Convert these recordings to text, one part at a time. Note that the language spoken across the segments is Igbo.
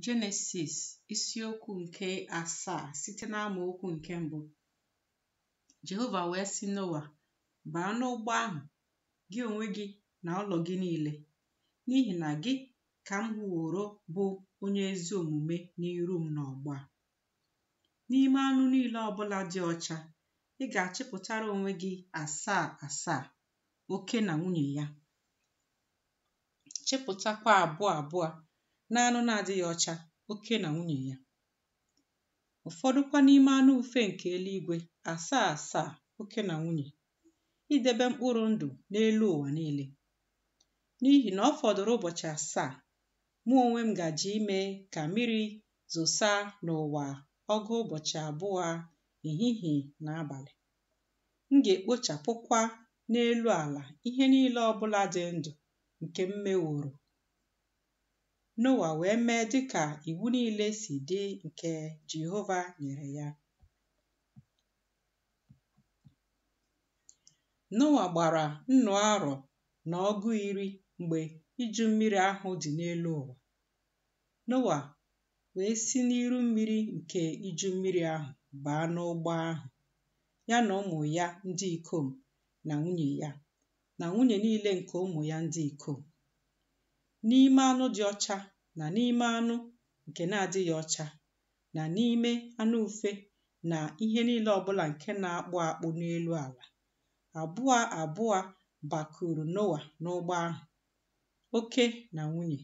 Jenesis isiokwu nke asaa site n'amaokwu nke mbụ Jehova wee sị Noa baa n'ụgbọ ahụ gị onwe gị na ụlọ gị niile n'ihi na gị ka m hụworo bụ onye ezi omume n'iru m n'ọgbọ a n'ime anụ niile ọbụla dị ọcha ị ga-achịpụtara onwe gị asaa asaa oke na nwunye ya chịpụtakwa abụọ abụọ n'anụ na-adịghị ọcha oke na nwunye ya ụfọdụkwa n'ime anụ ufe nke eluigwe asaa asaa oke na nwunye idebe mkpụrụ ndụ n'elu ụwa niile n'ihi na ọ fọdụrụ ụbọchị asaa mụ onwe m gaje ime ka mmiri zosa n'ụwa ọgụ ụbọchị abụọ ehihie na abalị M ga-ekpochapụkwa n'elu ala ihe niile ọ bụla dị ndụ nke m meworo. Noa wee mee dị ka iwu niile si dị nke Jehova nyere ya. Noa gbara nnụ arọ na ọgụ iri mgbe iju mmiri ahụ dị n'elu ụwa. Noa wee si n'iru mmiri nke iju mmiri ahụ baa n'ụgbọ ahụ, ya na ụmụ ya ndị ikom na nwunye ya, na nwunye niile nke ụmụ ya ndị ikom. N'ime anụ dị ọcha na n'ime anụ nke na-adịghị ọcha, na n'ime anụ ufe na ihe niile ọbụla nke na-akpụ akpụ n'elu ala, abụọ abụọ bakuru Noa n'ụgbọ ahụ, oke na nwunye,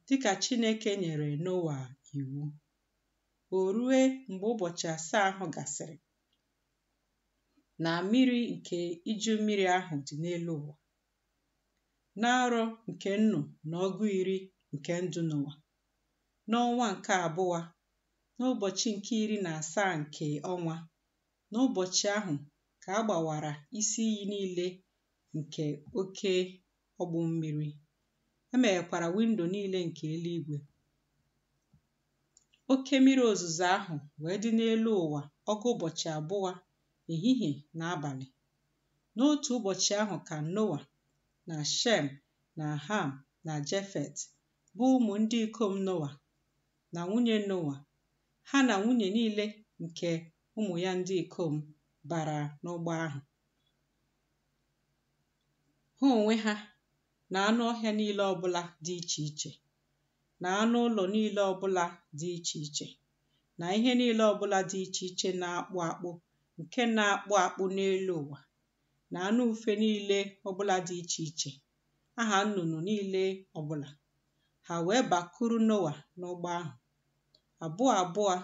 dị ka Chineke nyere Noa iwu. O rue mgbe ụbọchị asaa ahụ gasịrị, na mmiri nke iju mmiri ahụ dị n'elu ụwa, n'arọ nke nnụ na ọgụ iri nke ndụ Noa, n'ọnwa nke abụọ, n'ụbọchị nke iri na asaa nke ọnwa, n'ụbọchị ahụ ka a gbawara isi iyi niile nke oke ogbu mmiri e meghekwara windo niile nke eluigwe oke mmiri ozuzo ahụ wee dị n'elu ụwa ọgụ ụbọchị abụọ ehihie na abalị n'otu ụbọchị ahụ ka noa na shem na ham na jefet bụ ụmụ ndị ikom noa na nwunye noa ha na nwunye niile nke ụmụ ya ndị ikom bara n'ụgbọ ahụ ha onwe ha na anụ ọhịa niile ọbụla dị iche iche na anụ ụlọ niile ọbụla dị iche iche na ihe niile ọbụla dị iche iche na-akpụ akpụ nke na-akpụ akpụ n'elu ụwa na anụ ufe niile ọbụla dị iche iche aha nnụnụ niile ọbụla ha wee bakuru noa n'ụgbọ ahụ abụọ abụọ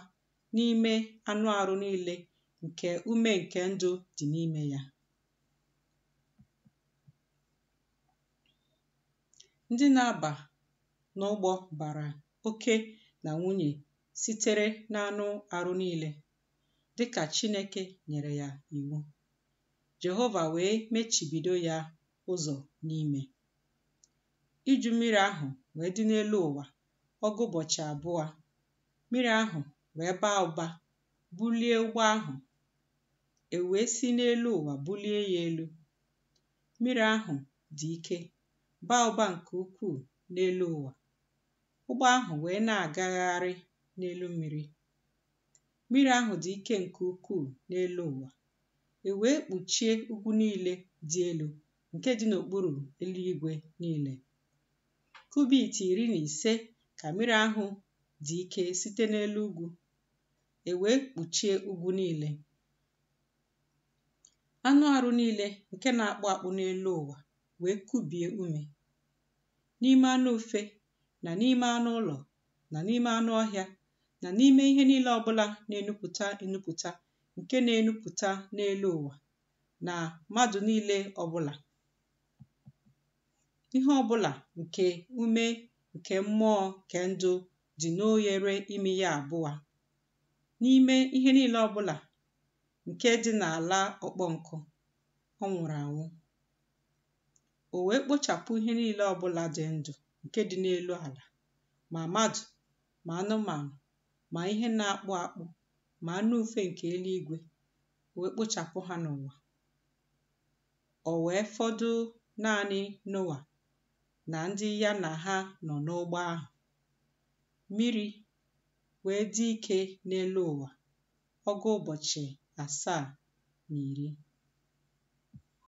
n'ime anụ arụ niile nke ume nke ndụ dị n'ime ya. Ndị na-aba n'ụgbọ bara oke na nwunye sitere n'anụ arụ niile, dị ka Chineke nyere ya iwu. Jehova wee mechibido ya ụzọ n'ime. Iju mmiri ahụ wee dị n'elu ụwa ọgụ ụbọchị abụọ mmiri ahụ wee baa ụba bulie ụgbọ ahụ e wee si n'elu ụwa bulie ya elu mmiri ahụ dị ike baa ụba nke ukwuu n'elu ụwa ụgbọ ahụ wee na-agagharị n'elu mmiri mmiri ahụ dị ike nke ukwuu n'elu ụwa e wee kpuchie ugwu niile dị elu nke dị n'okpuru eluigwe niile kubit iri na ise ka mmiri ahụ dị ike site n'elu ugwu, e wee kpuchie ugwu niile. Anụ arụ niile nke na-akpụ akpụ n'elu ụwa wee kubie ume. N'ime anụ ufe na n'ime anụ ụlọ na n'ime anụ ọhịa na n'ime ihe niile ọbụla na-enupụta enupụta nke na-enupụta n'elu ụwa na mmadụ niile ọbụla ihe ọbụla nke ume nke mmụọ nke ndụ dị n'oghere imi ya abụọ n'ime ihe niile ọbụla nke dị n'ala ọkpọ nkụ ọ nwụrụ anwụ o wee kpochapụ ihe niile ọbụla dị ndụ nke dị n'elu ala ma mmadụ ma anụmanụ ma ihe na-akpụ akpụ ma anụ ufe nke eluigwe o wee kpochapụ ha n'ụwa O wee fọdụ naanị Noa na ndị ya na ha nọ n'ụgbọ ahụ. Mmiri wee dị ike n'elu ụwa ọgụ ụbọchị asaa na iri.